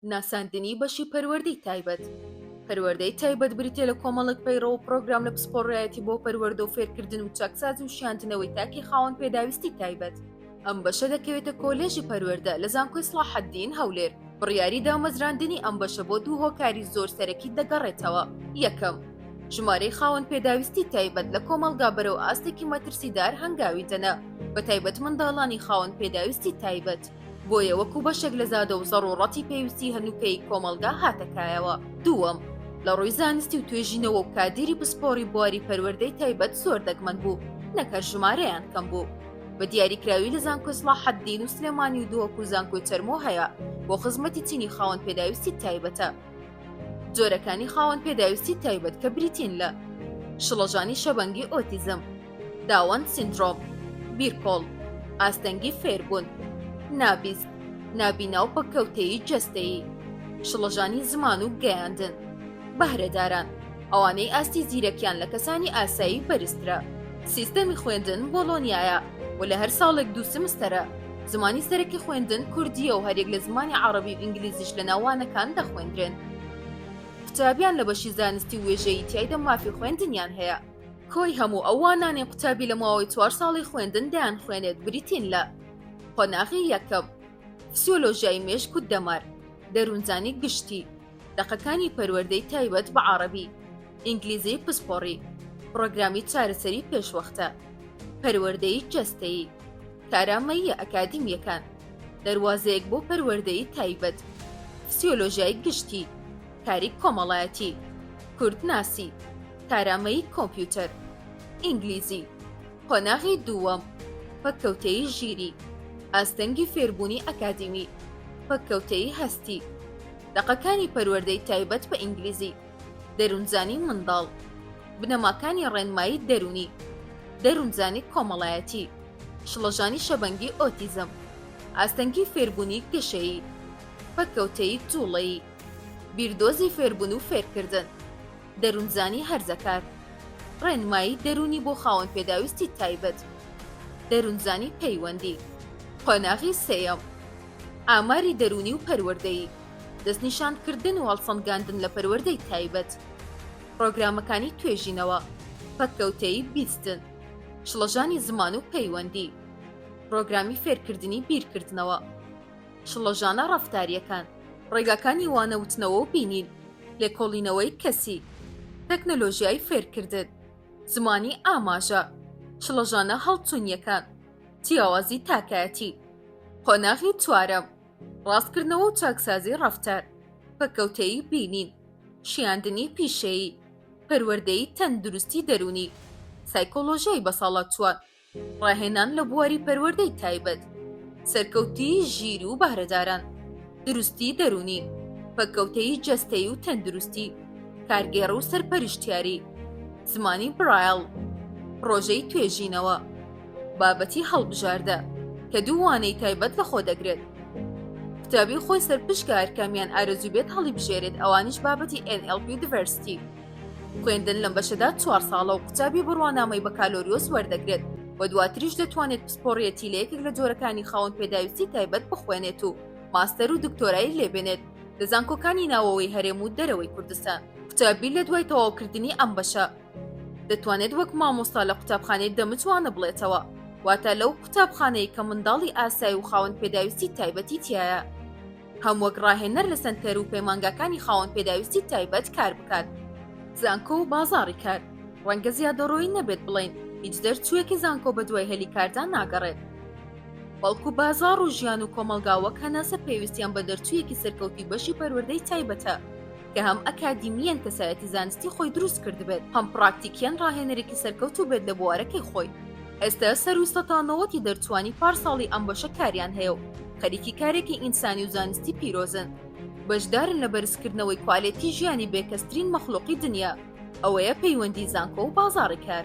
ناساندنی بەشی پەروەردەی تایبەت پەروەردەی تایبەت بریتە لە کۆمەڵک پەیڕە و پرۆگرام لە پسپۆڕایەتی بۆ پەروەردە و فێرکردن و چاکسازی و شاندنەوەی تاکی خاوەن پێداویستی تایبەت ئەم بەشە دەکەوێتە کۆلێژی پەروەردە لە زانکۆی سڵاحەدین هەولێر بڕیاری دامەزراندنی ئەم بەشە بۆ دوو هۆکاری زۆر سەرەکی دەگەڕێتەوە یەکەم ژمارەی خاوەن پێداویستی تایبەت لە کۆمەڵگا بەرەو ئاستێکی مەترسیدار هەنگاوی دەنا بە تایبەت منداڵانی خاوەن پێداویستی تایبەت بۆیە وەکو بەشێک لە زادە و زەڕوڕەتی پێویستی هەنووکەی کۆمەڵگا هاتە کایەوە دووەم لە ڕووی زانستی و توێژینەوە و کادیری پسپۆڕی بواری پەروەردەی تایبەت زۆر دەگمەن بوو نەکەر ژمارەیان کەم بوو بە دیاریکراوی لە زانکۆی سڵاحەددین و سلێمانی و دۆک و زانکۆی چەرمۆ هەیە بۆ خزمەتی چینی خاوەن پێداویستی تایبەتە جۆرەکانی خاوەن پێداویستی تایبەت کە بریتین لە شڵەژانی شەبەنگی ئۆتیزم داون سیندرۆم، بیرکۆڵ، ئاستەنگی فێربوون، نابیست، نابینا و پەککەوتەیی جەستەیی، شڵەژانی زمان و گەیاندن، بەهرەداران، ئەوانەی ئاستی زیرەکیان لە کەسانی ئاسایی بەرزترە. سیستەمی خوێندن بۆڵۆنیایە و لە هەر ساڵێک دوو سمستەرە. زمانی سەرەکی خوێندن کوردییە و هەریەک لە زمانی عەڕەبی و ئینگلیزیش لەناو وانەکان دەخوێندرێن. قوتابیان لە بەشی زانستی و وێژەیی تیایدا مافی خوێندنیان هەیە. کۆی هەموو ئەو وانانەی قوتابی لە ماوەی چوار ساڵی خوێندن دەیان خوێنێت بریتین لە قۆناغی یەکەم فسیۆلۆژیای مێشک و دەمار دەروونزانی گشتی دەقەکانی پەروەردەی تایبەت بە عربی ئینگلیزی پسپۆڕی پرۆگرامی چارەسەری پێشوەختە پەروەردەی جەستەیی کارامەیە ئەکادیمیەکان دەواازەیەک بۆ پەروەردەی تایبەت فسیۆلۆژیای گشتی کاری کۆمەڵایەتی کوردناسی کارامەیی کۆمپیوتەر، ئینگلیزی، قۆناغی دووەم، پەککەوتەیی ژیری، ئاستەنگی فێربوونی ئەکادیمی، پەککەوتەیی هەستی، دەقەکانی پەروەردەی تایبەت بە ئینگلیزی، دەروونزانی منداڵ، بنەماکانی ڕێنمایی دەروونی، دەروونزانی کۆمەڵایەتی، شڵەژانی شەبەنگی ئۆتیزم، ئاستەنگی فێربوونی گەشەیی، پەککەوتەیی جووڵەیی، بیردۆزی فێربوون و فێرکردن. دەروونزانی هەرزەکار، ڕێنمایی دەروونی بۆ خاوەن پێداویستی تایبەت، دەروونزانی پەیوەندی، قۆناغی سێیەم، ئاماری دەروونی و پەروەردەیی، دەستنیشانکردن و هەڵسەنگاندن لە پەروەردەی تایبەت، پڕۆگرامەکانی توێژینەوە، پەککەوتەیی بیستن، شڵەژانی زمان و پەیوەندی، پڕۆگرامی فێرکردنی بیرکردنەوە. شڵەژانە ڕەفتارییەکان، ڕێگاکانی وانەوتنەوە و بینین، لێکۆڵینەوەی کەسی، تەکنەلۆژیای فێرکردن، زمانی ئاماژە، شڵەژانە هەڵچوونییەکان، جیاوازی تاکایەتی. قۆناغی چوارەم، ڕاستکردنەوە و چاکسازی ڕەفتار، پەککەوتەیی بینین، شیاندنی پیشەیی، پەروەردەی تەندروستی دەروونی، سایکۆلۆژیای بەساڵاچووان. ڕاهێنان لە بواری پەروەردەی تایبەت، سەرکەوتنی ژیر و بەهرەداران، دروستی دەروونی، پەککەوتەیی جەستەیی و تەندروستی، کارگێڕ و سەرپەرشتیاری، زمانی برایل، پڕۆژەی توێژینەوە، بابەتی هەڵبژاردە، کە دوو وانەی تایبەت لەخۆ دەگرێت. قوتابی خۆی سەرپشکە هەرکامیان ئارەزوو بێت هەڵیبژێرێت ئەوانیش بابەتی NLP و Diversity. خوێندن لەم بەشەدا چوار ساڵە و قوتابی بڕوانامەی بەکالۆریۆس وەردەگرێت و دواتریش دەتوانێت پسپۆڕیەتی لە یەکێک لە جۆرەکانی خاوەن پێداویستی تایبەت بخوێنێت و ماستەر و دکتۆرای لێبێنێت لە زانکۆکانی ناوەوەی هەرێم و دەرەوەی کوردستان قوتابی لە دوای تەواوکردنی ئەم بەشە دەتوانێت وەک مامۆستا لە قوتابخانەی دەمتوانە بڵێتەوە واتە لەو قوتابخانەی کە منداڵی ئاسای و خاوەن پێداویستی تایبەتی تایە. هەم وەک ڕاهێنەر لە سەنتەر و پەیمانگاکانی خاوەن پێداویستی تایبەت کار بکات. زانکۆ و بازاڕی کار، ڕەنگە زیادەڕۆیی نەبێت بڵێین هیچ دەرچووێکی زانکۆ بەدوای هەلی کاردا ناگەڕێت، بەڵکو بازاڕ و ژیان و کۆمەڵگا وەک هەناسە پێویستیان بە دەرچوویەکی سەرکەوتووی بەشی پەروەردەی تایبەتە کە هەم ئەکادیمییەن کەسایەتی زانستی خۆی دروست کردبێت، هەم پڕاکتیکییەن ڕاهێنەرێکی سەرکەوتوو بێت لە بوارەکەی خۆی. ئێستە سەروو سەتا نەوەتی دەرچووانی پارساڵی ئەم بەشە کاریان هەیە و خەریکی کارێکی ئینسانی و زانستی پیرۆزن. بەشدارن لە بەرزکردنەوەی کوالێتی ژیانی بێکەسترین مەخلوقی دنیا، ئەوەیە پەیوەندی زانکۆ و بازاڕی کار.